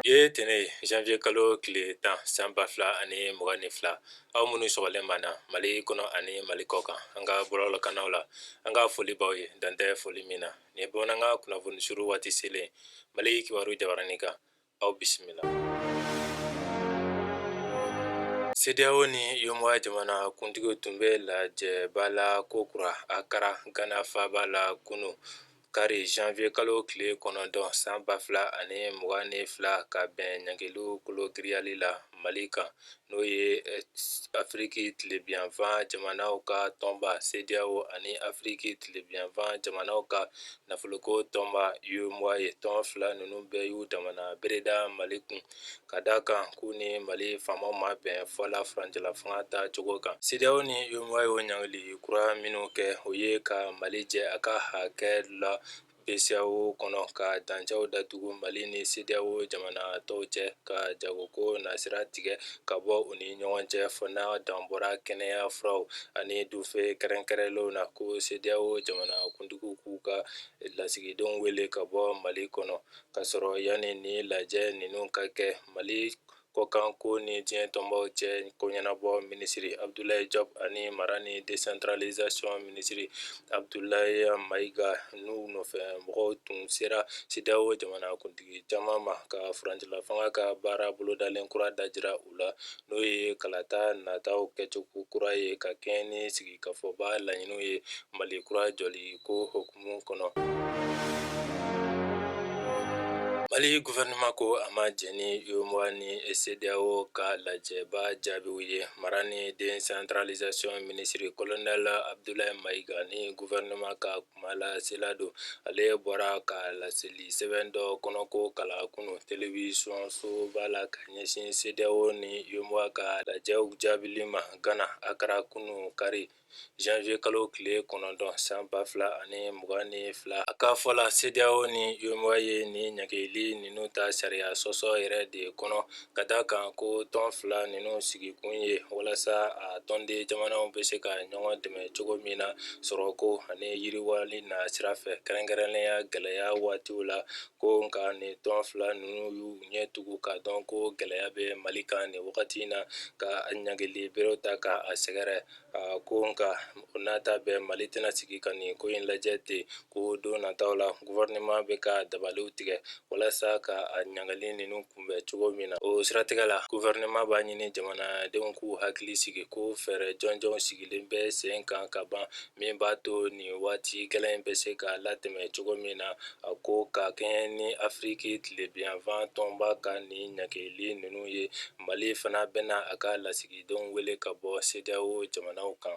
Bi ye tɛnɛ ye janvier kalo tile tan san ba fila ani mugan ni fila aw minnu sɔgɔlen b'an na Mali kɔnɔ ani Mali kɔkan an ka bɔlɔlɔkannaw la an ka foli b'aw ye dan tɛ foli min na nin ye bamanankan kunnafoni suru waati selen ye Mali kibaru jabaranin kan aw bisimila. CEDEAO ni UEMOA jamana kuntigiw tun bɛ lajɛba la ko kura Accra Ghana faaba la kunu kari janvier kalo tile kɔnɔntɔn san ba fila ani mugan ni fila ka bɛn ɲangiliw kologirinyali la Mali kan. n'o ye afiriki tilebinyanfan jamanaw ka tɔnba CEDEAO ani afiriki tilebinyanfan jamanaw ka nafoloko tɔnba UEMOA ye tɔn fila ninnu bɛɛ y'u damana bere da mali kun ka da a kan k'u ni mali faamaw ma bɛn fɔ la furancɛla fanga ta cogo kan CEDEAO ni UEMOA ye o ɲangili kura minnu kɛ o ye ka mali jɛ a ka hakɛ la BCEAO kɔnɔ ka dancɛw datugu mali ni CEDEAO jamana tɔw cɛ ka jagoko nasira tigɛ ka bɔ u ni ɲɔgɔn cɛ fɔ n'a dan bɔra kɛnɛya furaw ani dunfɛn kɛrɛnkɛrɛnlenw na ko CEDEAO jamana kuntigiw k'u ka lasigidenw wele ka bɔ mali kɔnɔ ka sɔrɔ yanni ni lajɛ ninnu ka kɛ mali kɔkanko ni diɲɛ tɔnbaw cɛ ko ɲɛnabɔ minisiri abudulayi jɔpu ani mara ni desantralizasiyɔn minisiri abudulayi mayiga n'u nɔfɛ mɔgɔw tun sera CEDEAO jamanakuntigi caman ma ka furancɛla fanga ka baara bolodalen kura dajira u la n'o ye kalata nataw kɛcogo kura ye ka kɛɲɛ ni sigikafɔba laɲiniw ye mali kura jɔli ko huku mu kɔnɔ mali gufɛrɛnaman ko a ma jɛn ni UEMOA ni CEDEAO ka lajɛba jaabiw ye mara ni desantaralizasiyɔn minisiri kolonɛli abudulayi mayiga ni gufɛrɛnaman ka kumalasela don ale bɔra ka laseli sɛbɛn dɔ kɔnɔko kalan kunu telewisɔn soba la ka ɲɛsin CEDEAO ni UEMOA ka lajɛw jaabili ma gana akara kunu kari janvier kalo tile kɔnɔntɔn san ba fila ani mugan ni fila a ka fɔ la CEDEAO ni UEMOA ye ni ɲangili ninnu ta sariya sɔsɔ yɛrɛ de kɔnɔ ka da kan ko tɔn fila ninnu sigikun ye walasa a tɔnden jamanaw bɛ se ka ɲɔgɔn dɛmɛ cogo min na sɔrɔko ani yiriwali nasira fɛ kɛrɛnkɛrɛnnenya gɛlɛya waatiw la ko nka ni tɔn fila ninnu y'u ɲɛ tugu ka dɔn ko gɛlɛya bɛ mali kan ni wagati in na ka ɲangili berew ta ka a sɛgɛrɛ ko nka o n'a ta bɛɛ mali tɛna sigi ka nin ko in lajɛ ten ko don nataw la gofɛrɛnaman bɛ ka dabaliw tigɛ walasa ka a ɲangili ninnu kunbɛn cogo min na o siratigɛ la gofɛrɛnaman b'a ɲini jamanadenw k'u hakili sigi ko fɛɛrɛ jɔnjɔnw sigilen bɛ sen kan ka ban min b'a to nin waati gɛlɛn in bɛ se ka latɛmɛ cogo min na a ko ka kɛɲɛ ni afiriki tilebiyanfan tɔnba ka nin ɲagili ninnu ye mali fana bɛna a ka lasigidenw wele ka bɔ CEDEAO jamanaw kan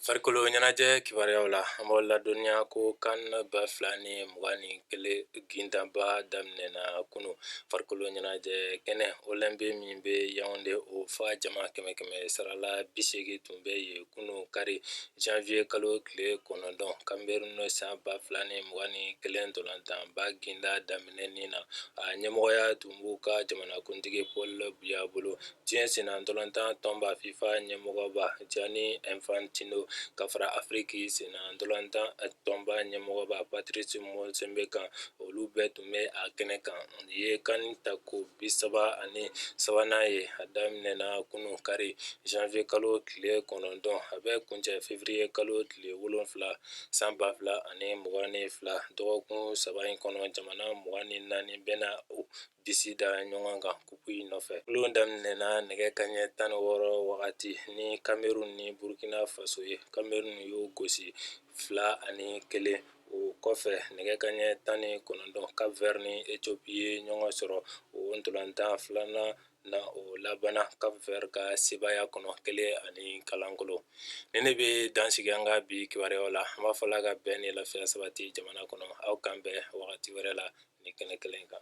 farikolo ɲɛnajɛ kibaruyaw la an b'aw ladɔnniya ko CAN ba fila ni mugan ni kelen gintanba daminɛna kunu farikolo ɲɛnajɛ kɛnɛ Olembe min bɛ Yaoundé o fa jama kɛmɛ kɛmɛ sarala bisegin tun bɛ yen kunun kari janfiye kalo tile kɔnɔntɔn Cameroun san ba fila ni mugan ni kelen ntolatanba gintan daminɛni na a ɲɛmɔgɔya tun b'u ka jamanakuntigi Paul Biya bolo diɲɛ sennantolatan tɔnba FIFA ɲɛmɔgɔba Gianni Infantino ka fara afiriki sennantolatan tɔnba ɲɛmɔgɔba Patrice Motsepe kan olu bɛɛ tun N bɛ a kɛnɛ kan nin ye CAN tako bisaba ani sabanan ye a daminɛna kunun kari janfiye kalo tile kɔnɔntɔn a bɛ kuncɛ fevriye kalo tile wolonfila san ba fila ani mugan ni fila dɔgɔkun saba in kɔnɔ jamana mugan ni naani bɛna u disi da ɲɔgɔn kan kupu in nɔfɛ balɔn daminɛna nɛgɛ kanɲɛ tan ni wɔɔrɔ wagati ni Cameroun ni burukina faso ye Cameroun y'o gosi fila ani kelen o kɔfɛ nɛgɛ kanɲɛ tan ni kɔnɔntɔn Cap Vert ni Ethiopie ye ɲɔgɔn sɔrɔ o ntolatan filanan na o labanna Cap Vert ka sebaaya kɔnɔ kelen ani kalankolo nin de bɛ dan sigi an ka bi kibaruya la an b'a fɔ Ala ka bɛn ni lafiya sabati jamana kɔnɔ aw k'an bɛn wagati wɛrɛ la nin kɛnɛ kelen kan